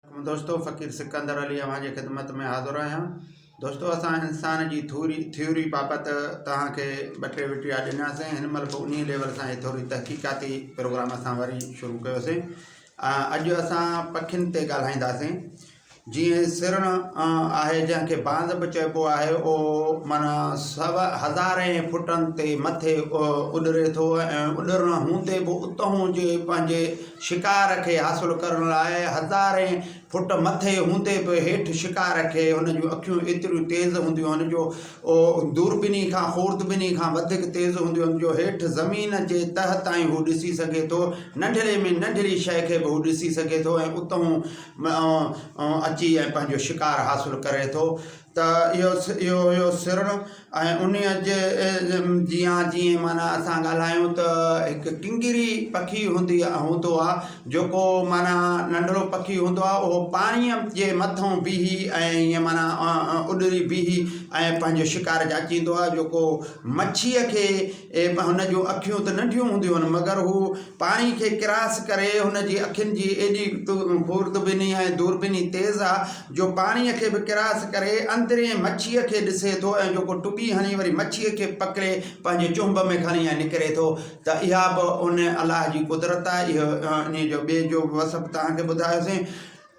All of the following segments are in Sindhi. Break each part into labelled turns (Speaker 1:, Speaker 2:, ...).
Speaker 1: دوستو فقير سڪندر علي اوهان جي خدمت ۾ حاضر آهيان دوستو اسان انسان جي ٿوري ٿيوري بابت توهان کي ٻه ٽي وٽيا ڏناسين هن مهل به انهي ليول سان هي ٿوري تحقيقاتي پروگرام اسان وري شروع ڪيوسين اڄ اسان پکين تي ڳالهائينداسين جيئن سرڻ آهي جنهن کي باند به چئبو آهي او مانا سو هزارين فٽن تي مٿي اڏري ٿو ۽ اڏرڻ هوندي به اتهون جي پنهنجي شڪار کي حاصل ڪرڻ لاء هزارين فٽ مٿي هوندي به هيٺ شڪار کي هن جون اکيون ايتريون تيز هونديون آهن جو دوربيني کان خوردبيني کان وڌيڪ تيز هونديون آهن جو هيٺ زمين جي تهه تائين هو ڏسي سگهي ٿو ننڍڙي ۾ ننڍڙي شيء کي به هو ڏسي سگهي ٿو ۽ اتهون اچي ۽ پنهنجو شڪار حاصل ڪري ٿو ته اهو اهو هيو سرڻ ۽ انهيء جي جيان جيئن معنيٰ اسان ڳالهايون ته هڪ ڪنگري پکي هوندي آ هوندو آهي جيڪو معنيٰ ننڍڙو پکي هوندو آهي اهو پاڻيء جي مٿو بيهي ۽ ائين معنيٰ اڏري بيهي ۽ پنهنجو شڪار جاچيندو آهي جيڪو مڇيء کي هن جون اکيون ته ننڍيون هونديون آهن مگر هو پاڻي کي ڪراس ڪري هن جي اکين جي ايڏي خوردبيني ۽ دوربيني تيز آهي جو پاڻيء کي به ڪراس ڪري اندرين مڇيء کي ڏسي ٿو ۽ جيڪو ٽٻي هڻي وري مڇيء کي پڪڙي پنهنجي چنب ۾ کڻي ۽ نڪري ٿو ته اها به ان الله جي قدرت آهي. اهو انهيء جو ٻئي جو به وصف توهان کي ٻڌايوسين.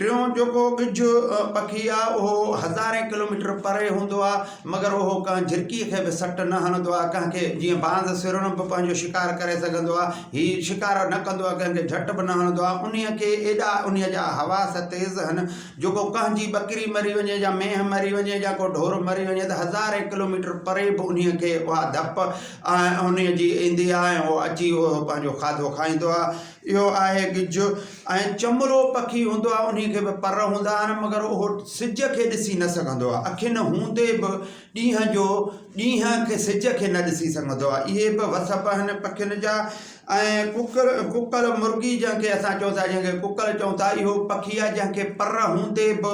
Speaker 1: ٽيون جيڪو ڳجهه پکي آهي اهو هزارين ڪلوميٽر پري هوندو آهي. مگر اهو ڪنهن جهرڪيء کي به سٽ نه هڻندو آهي ڪنهن کي جيئن باند سرڻ به پنهنجو شڪار ڪري سگهندو آهي هي شڪار نه ڪندو آهي ڪنهن کي جهٽ به نه هڻندو آهي انهيء کي ايڏا انهيء جا حواس تيز هن جو ڪو ڪنهن جي ٻڪري مري وڃي يا مينهن مري وڃي يا ڪو ڍور مري وڃي ته هزارين ڪلوميٽر پري به انهيء کي اها ڌپ انهيء جي ايندي آهي ۽ اهو اچي اهو پنهنجو کاڌو کائيندو آهي اهو آهي گج ۽ چمرو پکي هوندو آهي انهي کي به پر هوندا آهن مگر اهو سج کي ڏسي نه سگهندو آهي اکين هوندي به ڏينهن جو ڏينهن کي سج کي نه ڏسي سگهندو آهي اهي به وسپ آهن پکين جا ۽ ڪڪر ڪڪر مرغي جنهن کي اسان چئون ٿا جنهن کي ڪڪر چئون ٿا اهو پکي آهي جنهن کي پر هوندي به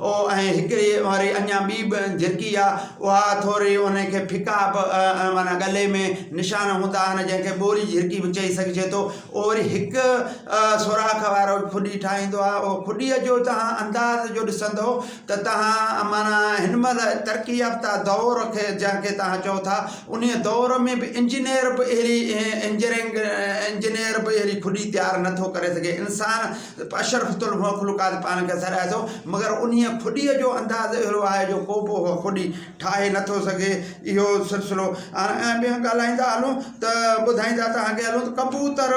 Speaker 1: او ۽ هڪڙي وري اڃا ٻي به جهرڪي آ، اها ٿوري انهي کي ڦڪا به معنيٰ ڳلي ۾ نشان هوندا آهن، جنهن کي ٻوري جهرڪي به چئي سگهجي ٿو. او وري هڪ سوراخ وارو کڏي ٺاهيندو آ. او کڏيء جو توهان انداز جو ڏسندؤ ته توهان معنيٰ هن مهل ترقي يافته دؤر کي جنهن کي توهان چئو ٿا، انهي دؤر ۾ به انجنيئر به اهڙي انجرينگ انجنيئر به اهڙي کڏي تيار نه ٿو ڪري سگهي. انسان اشرفت المخلوقات پاڻ کي سڏائي ٿو مگر انهيء خوديء جو انداز اهڙو آهي جو ڪو به اها خودي ٺاهي نه ٿو سگهي اهو سلسلو ۽ ٻيو ڳالهائيندا هلون ته ٻڌائيندا تهان کي هلون ته ڪبوتر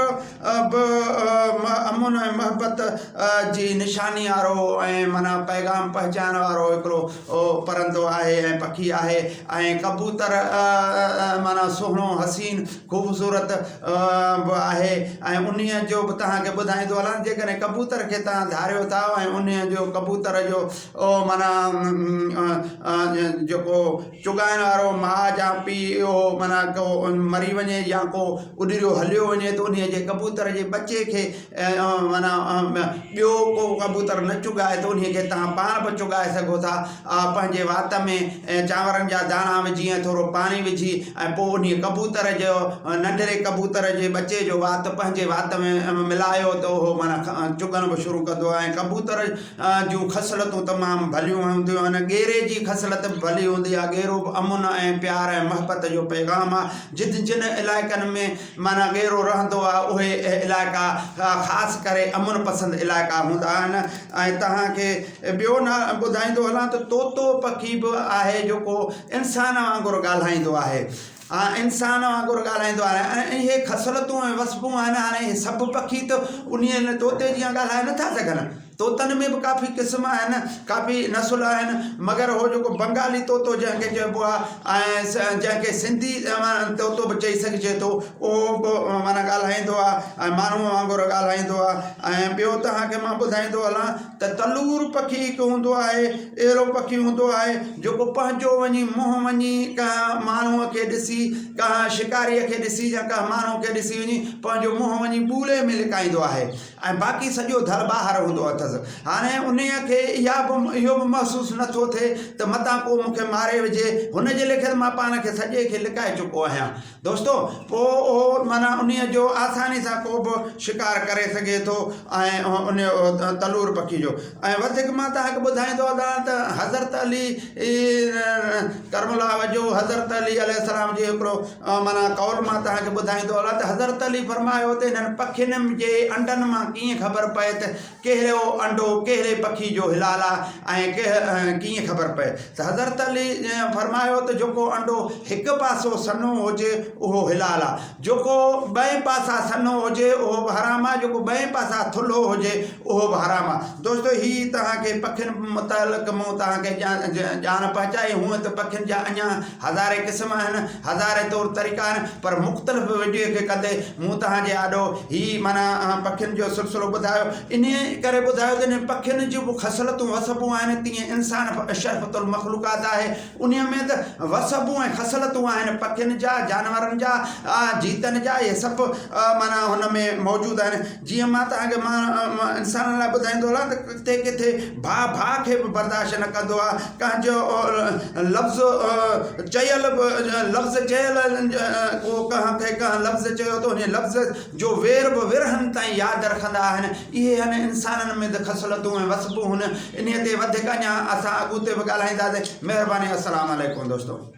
Speaker 1: به امن ۽ محبت جي نشاني وارو ۽ معنيٰ پيغام پهچائڻ وارو هڪڙو پرندو آهي ۽ پکي آهي ۽ ڪبوتر معنيٰ سهڻو حسين خوبصورت به آهي ۽ انهيء جو به توهان کي ٻڌائيندو هلان جيڪڏهن ڪبوتر کي توهان ڌاريو ٿا ۽ انهيء جو ڪبوتر جو معنيٰ جيڪو چغائڻ وارو ماء جا پيء اهو معنيٰ ڪو مري وڃي يا ڪو اڏريو هليو وڃي ته انهيء جي ڪبوتر جي ٻچي کي معنيٰ ٻيو ڪو ڪبوتر نه چڳائي ته انهيء کي توهان پاڻ به چڳائي سگهو ٿا پنهنجي وات ۾ چانورن جا داڻا وجهي ۽ ٿورو پاڻي وجهي ۽ پوء انهيء ڪبوتر جو ننڍڙي ڪبوتر جي ٻچي جو وات پنهنجي وات ۾ ملايو ته اهو معنيٰ چڳڻ به شروع ڪندو ۽ ڪبوتر جون خصلتون تمام ڀليون هونديون آهن ڳيري جي خصلت به ڀلي هوندي آهي ڳيرو به امن ۽ پيار ۽ محبت جو پيغام آهي جت جن علائقن ۾ معنيٰ ڳيرو رهندو آهي اهي علائقا خاص ڪري امن پسند علائقا هوندا آهن ۽ توهان کي ٻيو نه ٻڌائيندو هلان ته طوطو پکي به آهي جيڪو انسان وانگر ڳالهائيندو آهي انسان وانگر ڳالهائيندو آهي ۽ اهي خصلتون ۽ وصفون آهن هاڻي سڀ پکي ته انهي طوطي جيان ڳالهائي نٿا سگهن طوطن ۾ به ڪافي قسم آهن ڪافي نسل آهن مگر هو جيڪو بنگالي طوطو جنهن کي چئبو آهي ۽ جنهن کي سنڌي طوطو به چئي سگهجي ٿو اهو به معنيٰ ڳالهائيندو آهي ۽ ماڻهوء وانگر ڳالهائيندو آهي ۽ ٻيو توهان کي مان ٻڌائيندو هلان ته تلور پکي هڪ هوندو آهي اهڙو پکي هوندو آهي جيڪو پنهنجو وڃي منهن وڃي ڪنهن ماڻهوء کي ڏسي ڪنهن شڪاريء کي ڏسي يا ڪنهن ماڻهوء کي ڏسي وڃي پنهنجو منهن وڃي ٻولي ۾ لڪائيندو آهي ۽ باقي سڄو ڌر ٻاهر هوندو اٿس. هاڻي انهيء کي اها به اهو به محسوس نه ٿو ٿئي ته متان ڪو مون کي ماري وجهي. هن جي ليکت مان پاڻ کي سڄي کي لڪائي چڪو آهيان. دوستو! پوء اهو معنيٰ انهيء جو آساني سان ڪو به شڪار ڪري سگهي ٿو ۽ انهيء تلور پکي جو. ۽ وڌيڪ مان توهان کي ٻڌائيندو هلان ته حضرت علي ڪرم الله وجهه حضرت علي عليه السلام جي هڪڙو معنيٰ قول مان توهان کي ٻڌائيندو هلان ته حضرت علي فرمايو ته هنن پکين جي انڊن مان ڪيئن خبر پئي ته ڪهڙو انڊو ڪهڙي پکي جو حلال آهي ۽ ڪهڙو ڪيئن خبر پئي ته حضرت علي فرمايو ته جيڪو انڊو هڪ پاسو سنهو هجي اهو حلال آهي جيڪو ٻئي پاسا سنهو هجي اهو به حرام آهي جيڪو ٻئي پاسا ٿلهو هجي اهو به حرام آهي دوستو هي توهان کي پکين متعلق مون توهان کي ڄاڻ پهچائي هونئن ته پکين جا اڃان هزارين قسم آهن، هزارين طور طريقا آهن، پر مختلف وڊيو کي ڪندي مون توهان جي آڏو هي معنيٰ پکين جو سلسلو ٻڌايو، انهيء ڪري ٻڌايو ته انهن پکين جون به خصلتون وصفون آهن، تيئن انسان به اشرف المخلوقات آهي، انهيء ۾ به وصفون ۽ خصلتون آهن، پکين جا، جانورن جا، جيتن جا، اهي سڀ معنيٰ هن ۾ موجود آهن. جيئن مان توهان کي ماڻهن، انسانن، لاء ٻڌائيندو هلان ته ڪٿي ڪٿي ڀاء ڀاء کي به برداشت نه ڪندو آهي، ڪنهن جو لفظ چيل به لفظ چيل ڪو ڪنهن کي ڪنهن لفظ چيو ته انهيء لفظ جو وير به ورهين تائين ياد رکندا آهن. اهي هن انسانن ۾ ته خصلتون ۽ وصفون هن انهيء تي وڌيڪ اڃا اسان اڳوتي به ڳالهائينداسين. مهرباني السلام عليڪم دوستو.